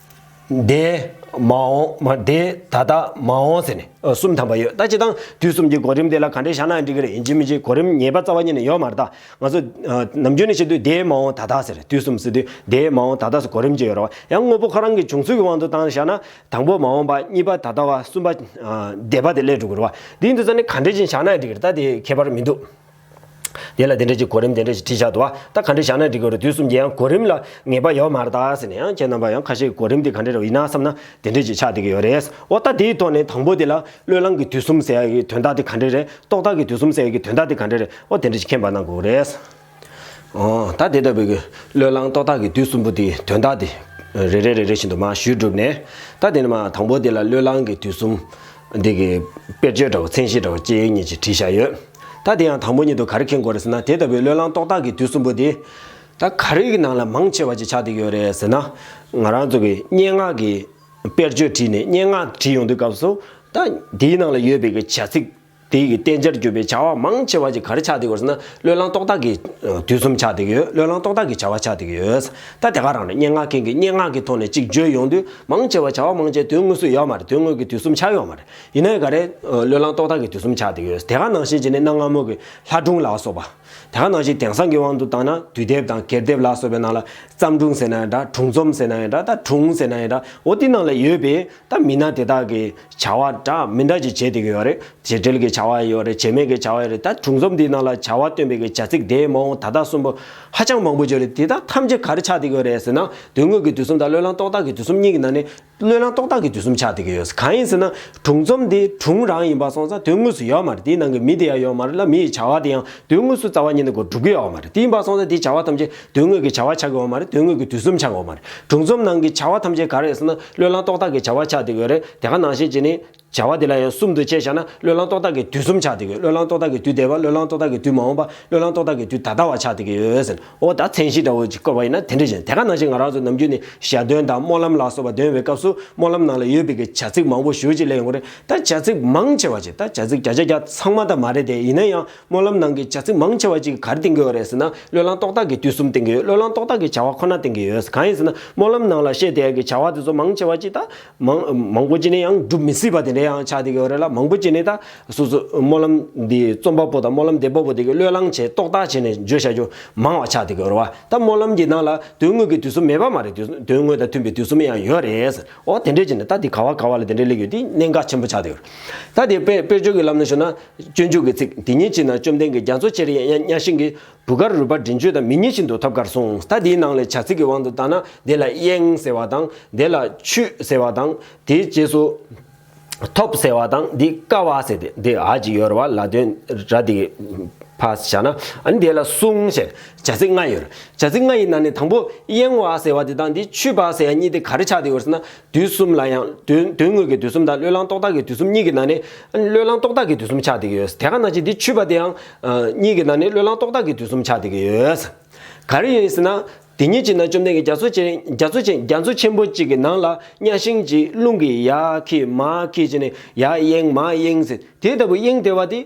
འདས་མ་འོངས་མ་འདས་ད་ལྟ་མ་འོངས་ཟེར་ནས་གསུམ་དམ་པ་ཡོད་ད་ཅི་ཐང་དུས་གསུམ་གྱི་གོ་རིམ་དེ་ལ་ག་འདྲའི་ཞར་ནག་འགྲིག་གི་རེད་ཡིན་གཅིག་མིན་གཅིག་གོ་རིམ་ངེས་པ་རྩ་བ་ཉིད་ནས་ཡོད་མ་རེད་ད་ང་ཚོ་ནམ་རྒྱུན་ནས་བཤད་དུས་འདས་མ་འོངས་ད་ལྟ་ཟེར་དུས་གསུམ་ཟེར་དུས་འདས་མ་འོངས་ད་ལྟ་སོགས་གོ་རིམ་གཅིག་ཡོད་རེད་བ་ཡང་དངོས་པོ་ཁོ་རང་གི་བྱུང་ཚུལ་གྱི་དབང་དུ་བཏང་ནས་བཞག་ན་དང་པོ་མ་འོངས་པ་གཉིས་པ་ད་ལྟ་བ་གསུམ་པ་འདས་པ་དེ་སླད་དྲུག་གོ་རེད་བ་འདི་འདི་ཚོ་ནི་ག་འདྲའི་ཞིང་ཞར་ནག་འགྲིག་གི་རེད་ད་དེ་ཁྱད་པར་མི་འདུག། དེ་ལ་དེ་འདྲ་ཅིག་གོ་རིམ་དེ་འདྲ་ཞིག་བྲིས་བཞག་འདུག་ད་ག་འདྲ་བཞག་ན་འགྲིག་གི་རེད་དུས་གསུམ་གྱི་ཡང་གོ་རིམ་ལ་ངེས་པ་ཡོད་མ་རེད་ད་ཟེར་ནས་ཡང་ཁྱེད་རྣམ་པ་ཡང་ཁ་ཤས་གོ་རིམ་དེ་ག་འདྲ་རེད་ཡིན་ན་བསམ་ན་དེ་འདྲ་ཅིག་ཆགས་བསྡད་ཀྱི་ཡོད་རེད་འོ་ད་དེའི་ཐོག་ནས་དང་པོ་དེ་ལ་བློས་བསླངས་ཀྱི་དུས་གསུམ་ཟེར་ཡག་གི་དོན་དག་དེ་ག་འདྲ་རེད་རྟོག་བཏགས་ཀྱི་དུས་གསུམ་ཟེར་ཡག་གི་དོན་དག་དེ་ག་འདྲ་རེད་འོ་དེ་འདྲ་ཅིག་མཁྱེན་པ་གནང་དགོས་རེད། འོ་ད་དེ་ལྟ་བུའི་བློས་བསླངས་རྟོག་བཏགས་ཀྱི་དུས་གསུམ་པོ་དེའི་དོན་དག་དེ་རེ་རེ་རེ་རེ་བཞིན་དུ་མ་ཞུས་གྲུབ་ནས་ད་དེ་ནས་མ་དང་པོ་དེ་ལ་བློས་བསླངས་ཀྱི་དུས་གསུམ། འདི་གི་དཔེར་བརྗོད་འདྲ་བོ་མཚན་གཞི་འདྲ་བོ་སྐྱེས་ཡོད་ཉིད་ཅིག་བྲིས་བཞག་ཡོད། ད་དེ་ཡང་དང་པོ་ཉིད་དུ་ག་རེ་མཁྱེན་དགོས་རེད་ཟེར་ན་དེ་ལྟ་བུའི་བློས་བསླང་རྟོགས་བཏགས་ཀྱི་དུས་གསུམ་པོ་དེ། ད་ག་རེའི་ནང་ལ་མང་ཆེ་བ་ཅིག་ཆགས་འདུག་ཡོད་རེད་ཟེར་ན། ང་རང་ཚོ་གིས་སྙན་ངག་གི་དཔེར་བརྗོད་བྲིས་ནས་སྙན་ངག་བྲིས་ཡོང་དུས་སྐབས་སུ། ད་དེའི་ནང་ལ་ཡོད་པའི་གི་བྱ་ཚིག། དེའི་གི་བསྟན་བྱར་གྱུར་པའི་བྱ་བ་མང་ཆེ་བ་ཅིག་ག་རེ་ཆགས་འདུག་ཡོད་རེད་ཟེར་ན་བློས་བསླང་རྟོགས་བཏགས་ཀྱི་དུས་གསུམ་ཆགས་འདུག་ཡོད་བློས་བསླང་རྟོགས་བཏགས་ཀྱི་བྱ་བ་ཆགས་འདུག་ཡོད། ད་དེ་ག་རང་རེད་སྙན་ངག་མཁན་གྱིས་སྙན་ངག་གི་ཐོག་ནས་ཅིག་བརྗོད་ཡོང་དུས་མང་ཆེ་བ་བྱ་བ་མང་ཆེ་དོན་དངོས་སུ་ཡོད་མ་རེད་དོན་དངོས་ཀྱི་དུས་གསུམ་ཆགས་ཡོད་མ་རེད། ཡིན་ནའི་འགའ་རེས་བློས་བསླངས་རྟོག་བཏགས་ཀྱི་དུས་གསུམ་ཆགས་བསྡད་ཡོད། དེ་ག་ནང་བཞིན་གྱི་ནི་གནའ་སྔ་མོ་གི་ལྷ་སྒྲུང་ལ་སོགས་པ། དེ་ག་ནང་བཞིན་དེང་སང་གི་དབང་དུ་བཏང་ན་དུས་དེབ་དང་གྱེར་དེབ་ལ་སོགས་པའི་ནང་ལ་བརྩམས་སྒྲུང་ཟེར་ན་ཡང་འདྲ་དྲུང་རྩོམ་ཟེར་ན་ཡང་འདྲ་ད་དྲུང་ཟེར་ན་ཡང་འདྲ་འོ་དེ་ནང་ལ་ཡོད་པས་ད་མི་སྣ་དེ་དག་གི་བྱ་བ་འདྲ་མི་འདྲ་ཅིག་བྱེད་བསྡད་ཀྱི་ཡོད་རེད་བྱེད་འབྲེལ་གྱི་བྱ་བ་ཡང་ཡོད་རེད་བྱེད་མེད་ཀྱི་བྱ་བ་ཡང་རེད་ད་དྲུང་རྩོམ་འདིའི་ནང་ལ་བྱ་བ་སྟོན་པའི་གྱི་བྱ་ཚིག་དེའི་མ་འོངས་ད་ལྟ་གསུམ་པོ་ཧ་ཅང་མང་པོ་བརྗོད་རེད་དེ་དག་ཐམས་ཅད་ག་རེ་ཆགས་བསྡད་ཀྱི་ཡོད་རེད་ཟེར་ན་དོན་དངོས་ཀྱི་དུས་གསུམ་དང་བློས་བསླངས་རྟོག་བཏགས་ཀྱི་དུས་གསུམ་གཉིས་ཀྱི་ནང་ནས་བློས་བསླངས་རྟོག་བཏགས་ཀྱི་དུས་གསུམ་ཆགས་བསྡད་ཀྱི་ཡོད། གང་ཡིན་ཟེར་ན། དྲུང་རྩོམ་དེ་དྲུང་རང་ཡིན་པ་སོང་ཙང་དོན་དངོས་སུ་ཡོད་མ་རེད་དེའི་ནང་གི་མི་དེ་ཡང་ཡོད་མ་རེད་ལ་མི་ཡི་བྱ་བ་དེ་ཡང་དོན་དངོས་སུ་རྩ་བ་ཉིད་ནས་སྒོ་སྒྲུབ་ཀྱི་ཡོད་མ་རེད་དེ་ཡིན་པ་སོང་ཙང་དེའི་བྱ་བ་ཐམས་ཅད་དོན་དངོས་ཀྱི་བྱ་བ་ཆགས་ཀྱི་ཡོད་མ་རེད་དོན་དངོས་ཀྱི་དུས་གསུམ་ཆགས་ཀྱི་ཡོད་མ་རེད་དྲུང་རྩོམ་ནང་གི་བྱ་བ་ཐམས་ཅད་ག་རེད་ཟེར་ན་བློས་བསླངས་རྟོག་བཏགས་ཀྱི་བྱ་བ་ཆགས་བསྡད་ཀྱི་ཡོད་རེད་དེ་ག་ནང་བཤད་བྱས་ནས། བྱ་བ་དེ་ལ་ཡང་གསུམ་དུ་དཔྱད་བཞག་ན་བློས་བསླང་རྟོག་བཏགས་ཀྱི་དུས་གསུམ་ཆགས་ཏེ་གི་བློས་བསླང་རྟོག་བཏགས་ཀྱི་དུས་འདས་པ་བློས་བསླང་རྟོག་བཏགས་ཀྱི་དུས་མ་འོངས་པ་བློས་བསླང་རྟོག་བཏགས་ཀྱི་དུས་ད་ལྟ་བ་ཆགས་ཏེ་གི་ཡོད་ཟེར། འོ་ད་མཚན་གཞི་འདྲ་བོ་ཅིག་བཀོད་པ་ཡིན་ན་དེ་འདྲ་བཞིན་དེ་ག་ནང་བཞིན་ང་རང་ཚོ་ནམ་རྒྱུན་ནས་ཞལ་འདོན་དང་སྨོན་ལམ་ལ་སོགས་པ་འདོན་བའི་སྐབས་སུ་སྨོན་ལམ་ནང་ལ་ཡོད་པའི་གི་བྱ་ཚིག་མང་པོ་ཞུ་ཅིག་ལས་ཡོང་གི་རེད་ད་བྱ་ཚིག་མང་ཆེ་བ་ཅིག་ད་བྱ་ཚིག་བརྒྱ་ཆ་བརྒྱ་ཚང་མ་ད་མ་རེད་དེ་ཡིན་ན་ཡང་སྨོན་ལམ་ནང་གི་བྱ་ཚིག་མང་ཆེ་བ་ཅིག་གར་བསྟན་གི་ཡོད་རེད་ཟེར་ན་བློས་བསླང་རྟོག་བཏགས་ཀྱི་དུས་གསུམ་བསྟན་གི་ཡོད་བློས་བསླང་རྟོག་བཏགས་ཀྱི་བྱ་བ་ཁོ་ན་བསྟན་གི་ཡོད་གང་ཡིན་ཟེར་ན་སྨོན་ལམ་ནང་ལ་བཤད་དེ་གི་བྱ་བ་དེ་ཚོ་མང་ཆེ་བ་ཅིག་ད། མང་པོ་བྱས་ནས་ཡང་འགྲུབ་མི་སྲིད་པ་དེ་འདྲ་ཡང་ཆགས་བསྡད་ཀྱི་ཡོད་རེད་ལ་མང་པོ་བྱས་ནས་ད་སོ་སོ་སྨོན་ལམ་འདི་རྩོམ་པ་པོ་དང་སྨོན་ལམ་འདེབས་པ་པོ་དེ་གའི་བློས་བསླངས་བྱས་རྟོག་བཏགས་བྱས་ནས་བརྗོད་བྱ་རྒྱུ་མང་བ་ཆགས་བསྡད་ཀྱི་ཡོད་རེད་བ་ད་སྨོན་ལམ་གྱི་ནང་ལ་དོན་དངོས་ཀྱི་དུས་སུ་མེད་པ་མ་རེད་དོན་དངོས་དང་མཐུན་པའི་དུས་སུ་མེད་ཡང་ཡོད་རེད་འོ་དེ་འདྲས་བྱས་ནས་ད་འདི་ག་བ་ག་བ་ལ་དེ་འདྲས་ལེགས་ཡོད་འདི་གནད་འགག་ཆེན་པོ་ཆགས་བསྡད་ཡོད་རེད་ད་དེ་དཔེར་བརྗོད་ཀྱི་ལམ་ནས་ཞུ་ན་སྤྱོད་འཇུག་གི་ཚིག་འདི་གཉིས་གཅིག་ན་བཅོམ་ལྡན་གྱི་རྒྱ་མཚོ་ཆེར་གཡས་གཡང་སྙ་ཤིང་གི་བུ་དཀར་རུས་པ་འདྲེན་སྤྱོད་དང་མི་གཉིས་ཤིན་ཏུ་ཐབས་དཀར་གསུངས་ད་དེའི་ནང་ལས་བྱ་ཚིག་གི་དབང་དུ་བཏང་ན་དེ་ལ་གཡེང་ཟེར་བ་དང་དེ་ལ་ཆུད་ཟེར་བ་དང་དེའི་རྗེས་སུ། ཐོབ་ཟེར་བ་དང་འདི་དཀའ་བ་ཟེར་ཏེ་འདི་ཧ་ཅིག་ཡོད་རེ་བ་ལ་དོན་ར་འདི་ཕ་བྱ་ན་ནི་དེ་ལ་གསུངས་ཞེས་བྱ་ཚིག་ལྔ་ཡོད། བྱ་ཚིག་ལྔ་ཡི་ནང་ནས་དང་པོ་གཡེང་བ་ཟེར་བ་དེ་དང་འདི་ཆུད་པ་ཟེར་བ་གཉིས་དེ་ག་རེ་ཆགས་ཏེ་ཡོད་ཟེར་ན་དུས་གསུམ་ལ་ཡང། དོན་དངོས་ཀྱི་དུས་གསུམ་དང་བློས་བསླངས་རྟོག་བཏགས་ཀྱི་དུས་གསུམ་གཉིས་ཀྱི་ནང་ནས། བློས་བསླངས་རྟོག་བཏགས་ཀྱི་དུས་གསུམ་ཆགས་བསྡད་ཀྱི་ཡོད། དེ་ག་ནང་བཞིན་འདི་ཆུད་པ་དེའང། གཉིས་ཀྱི་ནང་ནས་བློས་བསླངས་རྟོག་བཏགས་ཀྱི་དུས་གསུམ་ཆགས་བསྡད་ཀྱི་ཡོད། ག་རེ་ཡིན་ཟེར་ན། དེ་གཉིས་ཀྱི་ནང་བཅོམ་ལྡན་གྱི་རྒྱ་མཚོ་ཆེན་རྒྱ་མཚོ་ཆེན་རྒྱ་མཚོ་ཆེན་པོ་གཅིག་གི་ནང་ལ་གཉའ་ཤིང་གཅིག་རླུང་གིས་ཡར་ཁྱིལ་མར་ཁྱིལ་བྱས་ནས་ཡར་གཡེང་མར་གཡེང་ཟེར་དེ་ལྟ་བུའི་གཡེང་བདེ་བ་དེ།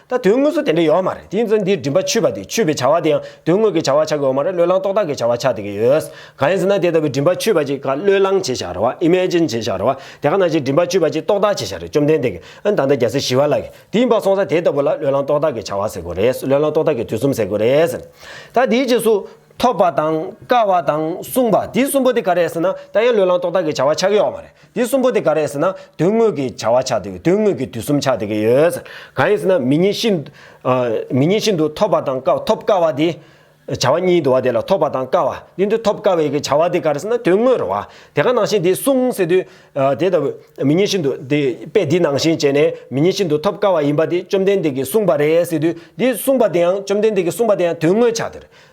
ད་དོན་དངོས་སུ་དེ་འདྲ་ཡོད་མ་རེད་དེ་ཡིན་ཚེ་འདིར་མགྲིན་པ་ཆུད་པ་དེ་ཆུད་པའི་བྱ་བ་དེའང་དོན་དངོས་ཀྱི་བྱ་བ་ཆགས་ཀྱི་ཡོད་མ་རེད་བློས་བསླངས་རྟོག་བཏགས་ཀྱི་བྱ་བ་ཆགས་བསྡད་ཀྱི་ཡོད། གང་ཡིན་ཟེར་ན་དེ་ལྟ་བུའི་མགྲིན་པ་ཆུད་པ་ཅིག་ག་བློས་བསླངས་བྱེད་བཞག་རེད་བ Imagine བྱེད་བཞག་རེད་བ། དེ་ག་ནང་བཞིན་མགྲིན་པ་ཆུད་པ་ཅིག་རྟོག་བཏགས་བྱེད་བཞག་རེད་བཅོམ་ལྡན་འདས་ཀྱིས་ཨ་ད་ལྟ་རྒྱལ་སྲས་ཞི་བ་ལགས་ཀྱིས་དེ་ཡིན་པར་སོང་ས་དེ་ལྟ་བུ་ལ་བློས་བསླངས་རྟོག་བཏགས་ཀྱི་བྱ་བ་ཟེར་དགོས་རེད་བློས་བསླངས་རྟོག་བཏགས་ཀྱི་དུས་གསུམ་ཟེར་དགོས་རེད་ཟེར། ད་དེའི་རྗེས་སུ། ཐོབ་པ་དང། དཀའ་བ་དང། བསྲུངས་པ་དེ་གསུམ་པོ་དེ་ག་རེད་ཟེར་ན་ད་ཡང་བློས་བསླངས་རྟོག་བཏགས་ཀྱི་བྱ་བ་ཆགས་ཀྱི་ཡོད་མ་རེད། དེ་གསུམ་པོ་དེ་ག་རེད་ཟེར་ན་དོན་དངོས་ཀྱི་བྱ་བ་ཆགས་འདུག་དོན་དངོས་ཀྱི་དུས་གསུམ་ཆགས་འདུག་གི་ཡོད། གང་ཡིན་ཟེར་ན་མི་ཉིད་ཤིན། མི་ཉིད་ཤིན་ཏུ་ཐོབ་པ་དང་དཀའ་ཐོབ་དཀའ་བ་དེ། བྱ་བ་གཉིས་དུ་བ་དེ་ལ་ཐོབ་པ་དང་དཀའ་བ་དེ་འདི་ཐོབ་དཀའ་བའི་གི་བྱ་བ་དེ་ག་རེ་ཟེར་ན་དོན་དངོས་རོ། དེ་ག་ནང་བཞིན་དེ་གསུངས་ཟེར་དུས། དེ་ལྟ་བུ་མི་ཉིད་ཤིན་ཏུ་དེ་དཔེ་འདི་ནང་བཞིན་བྱས་ནས་མི་ཉིད་ཤིན་ཏུ་ཐོབ་དཀའ་བ་ཡིན་པ་དེ་བཅོམ་ལྡན་འདས་ཀྱིས་གསུངས་པ་རེད་ཟེར་དུས་འདི་གསུངས་པ་དེའང་བཅོམ་ལྡན་འདས་ཀྱིས་གསུངས་པ་དེའང་དོན་དངོས་ཆགས་འདུག་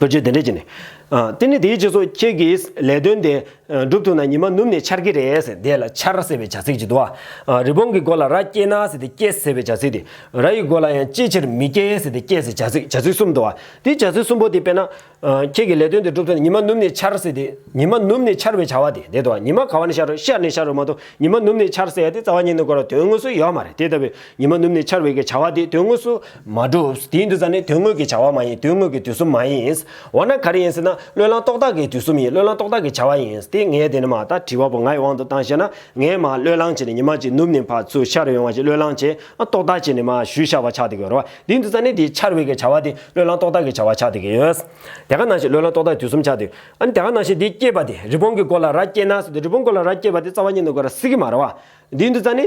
བོད་ཆས་དེ་འདྲས་གྱིས་ནས། དེ་ནི་དེའི་རྗེས་སུ་ཁྱེད་ཀྱིས་ལས་དོན་དེ་སྒྲུབ་ཐུབ་ན་ཉི་མ་ནུབ་ནས་འཆར་གྱི་རེད། དེ་ལ་འཆར་ཟེར་བའི་བྱ་ཚིག་ཅིག་འདུག་ཨ། རི་བོང་གི་མགོ་ལ་ར་སྐྱེས་ན་ཟེར་ཏེ་སྐྱེས་ཟེར་བའི་བྱ་ཚིག་དེ། ར་ཡི་མགོ་ལ་ཡང་ཅིའི་ཕྱིར་མི་སྐྱེ་ཟེར་ཏེ་སྐྱེས་ཟེར་བྱ་ཚིག་བྱ་ཚིག་གསུམ་འདུག་ཨ། དེའི་བྱ་ཚིག་གསུམ་པོ་དེ་དཔེར་ན། ཁྱེད་ཀྱིས་ལས་དོན་དེ་སྒྲུབ་ཐུབ་ན་ཉི་མ་ནུབ་ནས་འཆར་ཟེར་ཏེ། ཉི་མ་ནུབ་ནས་འཆར་བའི་བྱ་བ་དེ་འདི་འདུག་ཨ། ཉི་མ་ག་བ་ནས་ཤར་རུང་ཤར་ནས་ཤར་རུང་མ་གཏོགས་ཉི་མ་ནུབ་ནས་འཆར་ཟེར་ཡ་དེ་རྩ་བ་ཉིད་ནས་གོ་ལ་དོན་དངོས་སུ་ཡོད་མ་རེད་དེ་ལྟ་བུའི་ཉི་མ་ནུབ་ནས་འཆར་བའི་གི་བྱ་བ་དེ་དོན་དངོས་སུ་མ་གྲུབ། དེའི་འདུན་ས་ནི་དོན་དངོས་ཀྱི་བྱ་བ་མ་ཡིན་དོན་དངོས་ཀྱི་དུས་གསུམ་མ་ཡིན། འོ་ན་ག་རེ་ཡིན་ཟེར་ན་བློས་བསླངས་རྟོག་བཏགས་ཀྱི་དུས་གསུམ་ཡིན་བློས་བསླངས་རྟོག་བཏགས་ཀྱི་བྱ་བ་ཡིན། དེ་ངས་དེ་ནི་མ་ད་དྲི་བ་པོ་ངའི་དབང་དུ་བཏང་བཤད་ན་ངས་མ་བློས་བསླངས་བྱས་ནས་ཉི་མ་གཅིག་ནུབ་ནས་ཕར་ཚུར་འཆར་ཡོང་བ་ཞིག་བློས་བསླངས་བྱས་ཨ་རྟོག་བཏགས་བྱས་ནས་མ་ཞུས་ཤ་བ་ཆགས་ཏེ་གི་རོ། དེའི་འདུན་ས་ནི་དེའི་འཆར་བའི་གི་བྱ་བ་དེ་བློས་བསླངས་རྟོག་བཏགས་ཀྱི་བྱ་བ་ཆགས་ཏེ་གི་ཡོད། དེ་ག་ནང་ཞིག་བློས་བསླངས་རྟོག་བཏགས་དུས་གསུམ་ཆགས་ཏེ། ཨ་ནི་དེ་ག་ནང་ཞིག་དེ་སྐྱེས་པ་དེ་རི་བོང་གི་མགོ་ལ་ར་སྐྱེས་ན་ཟེར་ཏེ་རི་བོང་མགོ་ལ་ར་སྐྱེས་པ་དེ་རྩ་བ་ཉིད་ནས་མགོ་ར་སྲིད་གི་མ་རེད་བ། དེའི་འདུན་ས་ནི།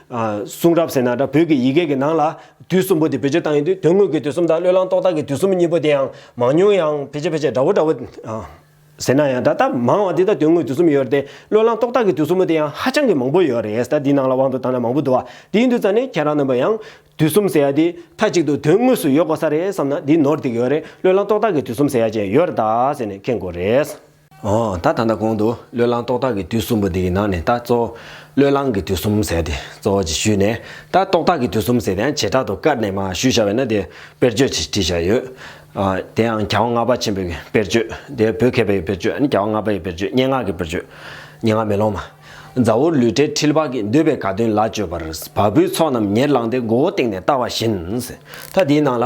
གསུང་རབ་ཟེར་ན་འདྲ་བོད་ཀྱི་ཡི་གེ་གི་ནང་ལ་དུས་གསུམ་པོ་དེ་བེད་སྤྱོད་བཏང་ཡོད་དུས་དོན་དངོས་ཀྱི་དུས་གསུམ་དང་བློས་བསླང་རྟོག་བཏགས་ཀྱི་དུས་གསུམ་གཉིས་པོ་དེ་ཡང་མང་ཉུང་ཡང་ཕལ་ཆེར་ཕལ་ཆེར་འདྲ་བོ་འདྲ་བོ། ཟེར་ན་ཡང་འདྲ་སྟབས་མང་བ་དེ་དང་དོན་དངོས་དུས་གསུམ་ཡོད་རེད་དེ་བློས་བསླང་རྟོག་བཏགས་ཀྱི་དུས་གསུམ་པོ་དེ་ཡང་ཧ་ཅང་གི་མང་པོ་ཡོད་རེད་ད་འདིའི་ནང་ལ་དབང་དུ་བཏང་ན་མང་པོ་འདུག་བ་དེའི་འདུག་ཙང་ནི་ཁྱེད་རང་རྣམ་པ་ཡང་དུས་གསུམ་ཟེར་ཡ་དེ་མཐའ་གཅིག་ཏུ་དོན་དངོས་སུ་ཡོད་དགོ་ས་རེད་བསམ་ན་འདི་ནོར་འདི་གི་ཡོད་རེད་བློས་བསླང་རྟོག་བཏགས་ཀྱི་དུས་གསུམ་ཟེར་ཡ་ཅན་ཡོད་རེད་ད་ཟེར་ནས་ཁེངས་དགོ་རེད། ད་ད་ལྟ་གོང་དུ་བློས་བསླང་རྟོག་བཏགས་ཀྱི་དུས་གསུམ་པོ་འདི་ཡི་ནང་ནས་ད་གཙོ་བོ་བློས་བསླང་གི་དུས་གསུམ་ཟེར་ཏེ་གཙོ་བོ་ཅེས་ཞུས་ནས་ད་རྟོག་བཏགས་ཀྱི་དུས་གསུམ་ཟེར་ཡང་བྱེ་བྲག་ཏུ་བཀར་ནས་མ་ཞུས་བྱ་བས་ན་དེ་དཔེར་བརྗོད་ཅེས་བྲིས་བྱ་ཡོད། དེ་ཡང་བྱ་བ་ལྔ་པ་ཆེན་པོའི་དཔེར་བརྗོད་དེ་བོད་མཁས་པའི་དཔེར་བརྗོད་ནི་བྱ་བ་ལྔ་པ་ཡི་དཔེར་བརྗོད་སྙན་ངག་གི་དཔེར་བརྗོད། སྙན་ངག་མེ་ལོང་མ། མཛའ་བོར་ལུས་བྲལ་འཁྲིལ་བག་གིས་འདོད་པའི་དགའ་སྟོན་ལ་སྤྱོད་པར་བ་སྤུའི་ཚོགས་རྣམས་ཉེར་བླངས་ཏེ་མགོ་བོ་སྟེང་ནས་བལྟ་བ་བཞིན། མཐའ་དེའི་ནང་ལ།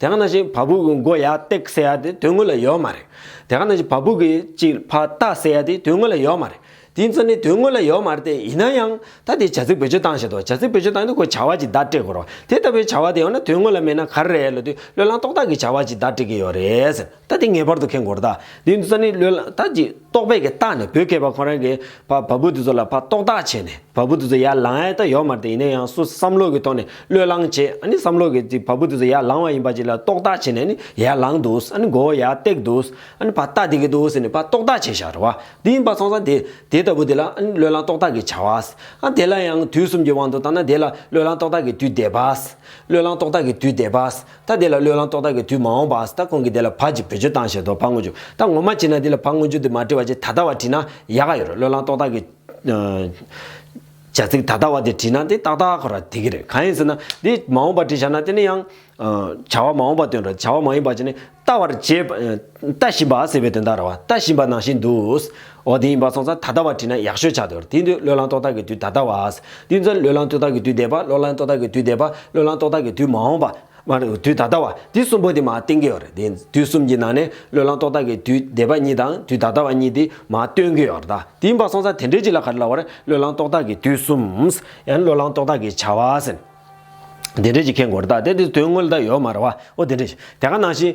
དེ་ག་ནང་བཞིན་བ་སྦུག་གི་མགོ་ཡ་སྟེག་ཟེར་ཡ་དེ་དོན་དངོས་ལ་ཡོད་མ་རེད། དེ་ག་ནང་བཞིན་བ་སྦུག་གི་སྤྱིར་བ་རྟ་ཟེར་ཡ་དེ་དོན་དངོས་ལ་ཡོད་མ་རེད། དེའི་མཚོན་ནི་དོན་དངོས་ལ་ཡོད་མ་རེད་དེ་ཡིན་ན་ཡང་ད་དེ་བྱ་ཚིག་བེད་སྤྱོད་སྟངས་བཤད་དོ་བྱ་ཚིག་བེད་སྤྱོད་སྟངས་ནི་ཁོས་བྱ་བ་ཅིག་བརྡ་སྤྲད་དགོས་རོགས་དེ་ལྟ་བུའི་བྱ་བ་དེ་ཡང་ན་དོན་དངོས་ལ་མེད་ན་ག་རེ་རེད་ལོ་དུས་བློས་བསླངས་རྟོགས་བཏགས་ཀྱི་བྱ་བ་ཅིག་བརྡ་སྤྲད་ཀྱི་ཡོད་རེད། ད་དེ་ངེས་པར་དུ་ཁེངས་དགོར་ད། དེ་ནི་ཙནི་ལོས་ལ་ད་ཅིག་རྟོགས་པས་ཀྱི་རྟགས་ནི་བོད་སྐད་པ་ཁོ་རང་གིས་བ་བ་བུ་དེ་ཚོ་ལ་བ་རྟོགས་རྟགས་བྱས་ནས་བ་བུ་དེ་ཚོ་ཡར་ལངས་ཨེ་ད་ཡོད་མ་རེད་ཡིན་ན་ཡང་སུ་བསམ་བློ་གི་ཐོག་ནས་བློས་བསླངས་བྱས་ཨ་ནི་བསམ་བློ་གིས་ཅིག་བ་བུ་དེ་ཚོ་ཡར་ལངས་བ་ཡིན་པ་ཅིག་ལ་རྟོགས་རྟགས་བྱས་ནས་ཨ་ནི་ཡར་ལངས་འདུག་ཨ་ནི་མགོ་བོ་ཡར་བཏེགས་འདུག་ཨ་ནི་བ་རྟགས་བསྡིགས་ཀྱི་འདུག་ཟེར་ནས་བ་རྟོགས་རྟགས་བྱས་ཤག་རེད་བ་དེ་ཡིན་པ་ཚང་ས་དེ་དེ་ལྟ་བུ་དེ་ལ་ཨ་ནི་བློས་བསླངས་རྟོགས་རྟགས་ཀྱིས་བྱ་བ། ཨ་དེ་ལ་ཡང་དུས་གསུམ་གྱི་དབང་དུ་བཏང་ན་དེ་ལ་བློས་བསླངས་རྟོགས་རྟགས་ཀྱི་དུས་འདས་པ། བློས་བསླངས་རྟོགས་རྟགས་ཀྱི་དུས་འདས་པ། ད་དེ་ལ་བློས་བླང་རྟོག་བཏགས་ཀྱི་དུས་མ་འོངས་པའང་སྲིད་ད་ཁོང་གིས་དེ་ལ་བག་ཅིག་བེད་སྤྱོད་བཏང་ཞེས་དོ་ཕག་ངོ་བྱུག་ད་ངོ་མ་བྱིན་ན་དེ་ལ་བག་ངོ་བྱུག་དེ་མ་བྲི་བ་ཅི་ད་ལྟ་བ་བྲིས་ན་ཡག་ག་ཡོད་རེད་བློས་བླང་རྟོག་བཏགས་ཀྱི། བྱ་ཚིག་ད་ལྟ་བ་དེ་བྲིས་ན་དེ་ཏག་ཏག་ཁོ་ར་དེ་གི་རེད་གང་ཡིན་ཟེར་ན་དེ་མ་འོངས་པ་བྲིས་བྱ་ན་དེ་ནི་ཡང། བྱ་བ་མ་འོངས་པ་སྟོན་རོགས་བྱ་བ་མ་ཡིན་པ་བྱས་ནས་ལྟ་བར་བྱེད། ལྟ་བཞིན་པ་ཟེར་བའི་དོན་དག་ར་བ་ལྟ་བཞིན་པ་ནང་བཞིན་དུ། འོ་དེ་ཡིན་པ་སོང་ཙང་ད་ལྟ་བ་བྲིས་ན་ཡག་ཤོས་ཆགས་འདུག་དེ་དུས་བློས་བསླངས་ཏོག་ཏག་གི་དུས་ད་ལྟ་བ། དུས་མཚམས་བློས་བསླངས་ཏོག་ཏག་གི་དུས་འདས་པ་བློས་བསླངས་ཏོག་ཏག་གི་དུས་འདས་པ་བློས་བསླངས་ཏོག་ཏག་གི་དུས་མ་འོངས་པ། དུས་ད་ལྟ་བ། དུས་གསུམ་པོ་དེ་མ་བསྟན་གི་ཡོད་རེད་དེ། དུས་གསུམ་གྱི་ནང་ནས་བློས་བསླངས་ཏོག་ཏག་གི་དུས་འདས་པ་གཉིས་དང་དུས་ད་ལྟ་བ་གཉིས་དེ་མ་སྟོན་གི་ཡོད་རེད་ད། དེ་ཡིན་པ་སོང་ཙང་དེ་འདྲའི་གཅིག་ལ་ག་རེ་ལ་བར་བློས་བསླངས་ཏོག་ཏག་གི་དུས་གསུམ། ཡང་ན་བློས་བསླངས་ཏོག་ཏག་གི་བྱ་བ། དེ་འདྲའི་གཅིག་མཁྱེན་དགོས་རེད་ད། དེ་དུས་དོན་དངོས་ལ་ད་ཡོད་མ་རེད་བ། འོ་དེ་འདྲའི་གཅིག་དེ་ག་ནང་བཞིན།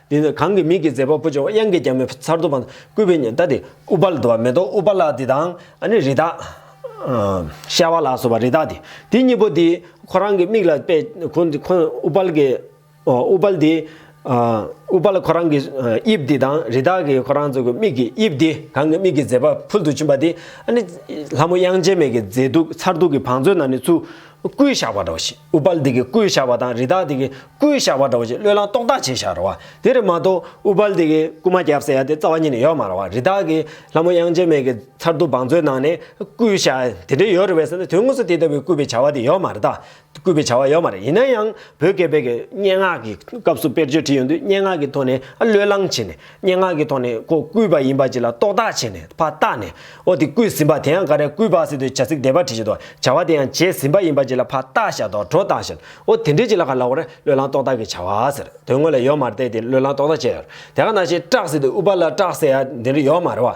འདི་ནི་གང་གི་མིག་གི་མཛེས་པ་པོ་ཆེ་བ་དབྱངས་ཀྱི་རྒྱ་མོའི་མཚར་སྡུག་པ། སྐུད་པའི་ཉི་ཟླ་འདི། ཨུ་པ་ལ་དུ་བ་མེ་ཏོག་ཨུ་པ་ལ་འདི་དང། ནི་རི་དྭགས། ཤྭ་བ་ལ་སོགས་པ་རི་དྭགས་འདི། དེ་གཉིས་པོ་འདི། ཁོ་རང་གི་མིག་ལ་པད། ཨུ་པ་ལ་གི། ཨུ་པ་ལ་འདི། ཨུ་པ་ལ་ཁོ་རང་གི། དབྱིབས་འདི་དང་རི་དྭགས་ཀྱི་ཁོ་རང་ཚོ་གི་མིག་གི་དབྱིབས་འདི། གང་གི་མིག་གི་མཛེས་པ་ཕུལ་དུ་ཕྱིན་པ་འདི། ནི། ལྷ་མོ་དབྱངས་ཅན་མེད་ཀྱི་མཛེས་སྡུག་མཚར་སྡུག་གི་བང་མཛོད་ན་ནི་ཆུ། སྐུའི་ཞགས་པ་འདྲ་བ་ཞིག་ཨུ་པ་ལ་འདི་གི་སྐུའི་ཞགས་པ་དང་རི་དྭགས་འདི་གི་སྐུའི་བཤགས་པ་འདྲ་བོ་ཞིག་བློས་བསླངས་རྟོགས་བཏགས་བྱས་བཞག་རོགས། དེ་རེ་མ་གཏོགས་ཨུ་བལ་དེ་གའི་སྐུ་མ་བརྒྱབ་ཟེར་ཡ་དེ་རྩ་བ་ཉིད་ནས་ཡོད་མ་རང་བ་རི་དྭགས་ཀྱི་ལྷ་མོ་དབྱངས་ཅན་མེད་ཀྱི་མཚར་སྡུག་བང་མཛོད་ནང་ནས་སྐུའི་བཤགས་དེ་འདྲས་ཡོད་རེད་བས་ཟེར་ན་དོན་དངོས་སུ་དེ་ལྟ་བུའི་སྐུད་པའི་བྱ་བ་དེ་ཡོད་མ་རེད་ད། སྐུད་པའི་བྱ་བ་ཡོད་མ་རེད་ཡིན་ན་ཡང་བོད་སྐད་དཔེ་གྱི་སྙན་ངག་གི་སྐབས་སུ་དཔེར་བརྗོད་བྲིས་ཡོང་དུས་སྙན་ངག་གི་ཐོག་ནས་ཨ་བློས་བསླངས་བྱས་ནས། སྙན་ངག་གི་ཐོག་ནས་ཁོ་བརྐུས་པ་ཡིན་པ་ཅིག་ལ་རྟོག་བཏགས་བྱས་ནས་ཕ་རྟགས་ནས་ཨོ་དེ་བརྐུས་ཟིན་པ་དེ་ཡང་འགའ་རེས་བརྐུས་པ་ཟེར་དུས་བྱ་ཚིག་དེ་པར་བྲིས་བཞིན་དུ་བྱ་བ་དེ་ཡང་བྱས་ཟིན་པ་ཡིན་པ་ཅིག་ལ་ཕ་རྟགས་བཞག་དོགས་འཕྲོ་བཏང་བཞིན་ཨོ་དེ་འདྲས་ཅིག་ལ་ག་ལ་བར་བློས་བསླངས་རྟོག་བཏགས་ཀྱི་བྱ་བ་ཟེར་དོན་དངོས་ལ་ཡོག་མར་བལྟས་ཏེ་བློས་བསླངས་རྟོག་བཏགས་བྱས་ཡོད་དེ་ག་ནང་བཞིན་སྐྲག་ཟེར་དུས་ཨུ་པ་ལ་སྐྲག་ཟེར་ཡ་འདི་འདྲ་ཡོག་མ་རེད་བ།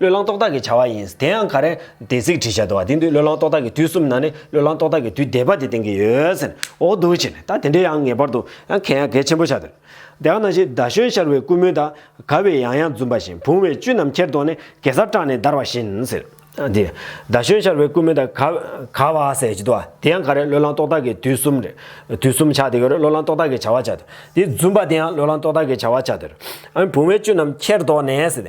བློས་བསླང་རྟོག་བཏགས་ཀྱི་བྱ་བ་ཡིན། དེ་ཡང་ག་རེ། དེ་ཚིག་བྲིས་བྱ་དུ་བ་དེ་འདུག་བློས་བསླང་རྟོག་བཏགས་ཀྱི་དུས་གསུམ་ན་ནི་བློས་བསླང་རྟོག་བཏགས་ཀྱི་དུས་འདས་པ་དེ་བསྟན་གྱི་ཡོད། ཟེར་ནས་འོ་འདུག་བྱས་ནས་ད་དེ་འདྲའི་ཡང་ངེས་པར་དུ་ཡང་གལ་ཡང་གལ་ཆེན་པོ་ཆགས་དོན། དེ་ཡང་ན་གཞི་ཟླ་གཞོན་ཤར་བའི་ཀུ་མུད་དག་ག་བས་ཡང་ཡང་འཛུམ་པ་བཞིན་བུང་བའི་བཅུད་རྣམས་ཁྱེར་དོགས་ནས་གེ་སར་སྐྲག་ནས་འདར་བ་བཞིན་ཟེར། དེ། ཟླ་གཞོན་ཤར་བའི་ཀུ་མུད་དག་ག། ག་བ་ཟེར་གྱི་དུ་བ་དེ་ཡང་ག་རེ་བློས་བསླང་རྟོག་བཏགས་ཀྱི་དུས་གསུམ་རེད། དུས་གསུམ་ཆགས་དེ་ག་རེ་བློས་བསླང་རྟོག་བཏགས་ཀྱི་བྱ་བ་ཆགས་དོན། དེ་འཛུམ་པ་དེ་ཡང་བློས་བསླང་རྟོག་བཏགས་ཀྱི་བྱ་བ་ཆགས་དོན། བུང་བའི་བཅུད་རྣམས་ཁྱེར་དོགས་ནས་ཟེར།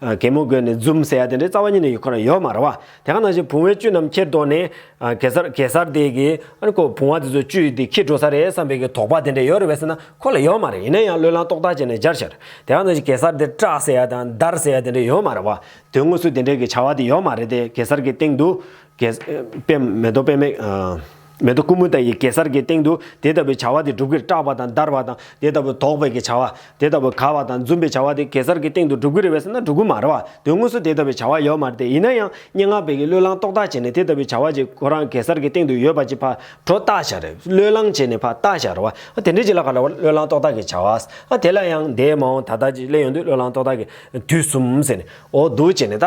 གད་མོ་དགོད་ནས་འཛུམ་ཟེར་ཡ་དེ་འདྲའི་རྩ་བ་ཉིད་ནས་ཡོད་ཁོ་ན་ཡོད་མ་རེད་བ། དེ་ག་ནང་བཞིན་བུང་བའི་བཅུད་རྣམས་ཁྱེར་དོགས་ནས། གེ་སར་གེ་སར་དེ་གི། ཨ་ཁོ་བུང་བ་དེ་ཚོའི་བཅུད་དེ་ཁྱེར་འགྲོ་ས་རེད་བསམ་པའི་གི་དོགས་པ་དེ་འདྲ་ཡོད་རེད་བས་ཟེར་ན་ཁོ་ལ་ཡོད་མ་རེད་ཡིན་ན་ཡང་བློས་བསླངས་རྟོགས་བཏགས་བྱས་ནས་སྦྱར་ཤར། དེ་ག་ནང་བཞིན་གེ་སར་དེ་སྐྲག་ཟེར་ཡ་དང་འདར་ཟེར་ཡ་དེ་འདྲ་ཡོད་མ་རེད་བ། དོན་དངོས་སུ་དེ་འདྲའི་གི་བྱ་བ་དེ་ཡོད་མ་རེད་དེ་གེ་སར་གི་སྟེང་དུ། གེ། པད་མེ་རྡོ་པད་མེ། མེ་ཏོག་ཀུ་མུ་ད་ཡིས་གེ་སར་གྱི་སྟེང་དུ་དེ་ལྟ་བུའི་བྱ་བ་དེ་སྒྲུབ་ཀྱི་སྐྲག་པ་དང་འདར་བ་དང་དེ་ལྟ་བུ་དོགས་པའི་གྱི་བྱ་བ། དེ་ལྟ་བུ་དགའ་བ་དང་འཛུམ་པའི་བྱ་བ་དེ་གེ་སར་གྱི་སྟེང་དུ་སྒྲུབ་ཀྱི་རེ་བས་ན་སྒྲུབ་ཀྱི་མ་རེ་བ་དོན་དངོས་སུ་དེ་ལྟ་བུའི་བྱ་བ་ཡོད་མ་རེ་སྟེ་ཡིན་ན་ཡང་སྙན་ངག་པའི་གྱི་བློས་བསླང་རྟོག་བཏགས་བྱས་ནས་དེ་ལྟ་བུའི་བྱ་བ་གྱི་ཁོ་རང་གེ་སར་གྱི་སྟེང་དུ་ཡོད་པ་གྱི་ཕར་འགྲོ་རྟགས་བྱ་རེ་བསློས་བསླང་བྱས་ནས་ཕར་རྟགས་བྱ་རེ་བ་དེ་འདྲའི་གྱི་ལ་ག་ལ་བ་བློས་བསླང་རྟོག་བཏགས་གྱི་བྱ་བ། དེ་ལ་ཡང་འདས་མ་འོངས་ད་ལྟ་གྱི་སླད་ཡོང་དུས་བློས་བསླང་རྟོག་བཏགས་གྱི་དུས་གསུམ་ཟེར་ནས་འོ་བསྡུ་བྱས་ནས་ད།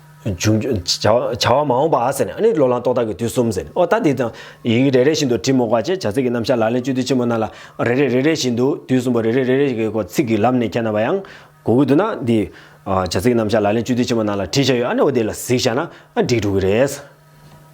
བྱ་བ་མ་འོངས་པ་ཟེར་ནས་ཨ་ནི་ལོ་ལངས་ཏོག་དག་གི་དུས་གསུམ་ཟེར་ནས་ཨོ་ད་འདི་དང། ཡི་གེ་རེ་རེ་བཞིན་དུ་བྲིས་མོ་བཀའ་བཅད་བྱ་ཚིག་གི་རྣམ་བཞག་ལག་ལེན་བཅུ་དུས་ཆེན་པོ་རྣམས་ལ། རེ་རེ་རེ་རེ་བཞིན་དུ་དུས་གསུམ་པོ་རེ་རེ་རེ་རེ་ཞིག་གི་སྐོར་ཚིག་གི་ལམ་ནས་ཁྱེར་ན་བ་ཡང། གོ་དགོས་འདུག་ན་འདི། བྱ་ཚིག་གི་རྣམ་བཞག་ལག་ལེན་བཅུ་དུས་ཆེན་པོ་རྣམས་ལ་བྲིས་བྱ་ཡོད་ཨ་ནི་ཨོ་དེ་ལ་གཟིགས་བྱ་ན་ཨ་འགྲིག་འགྲོ་གི་རེད།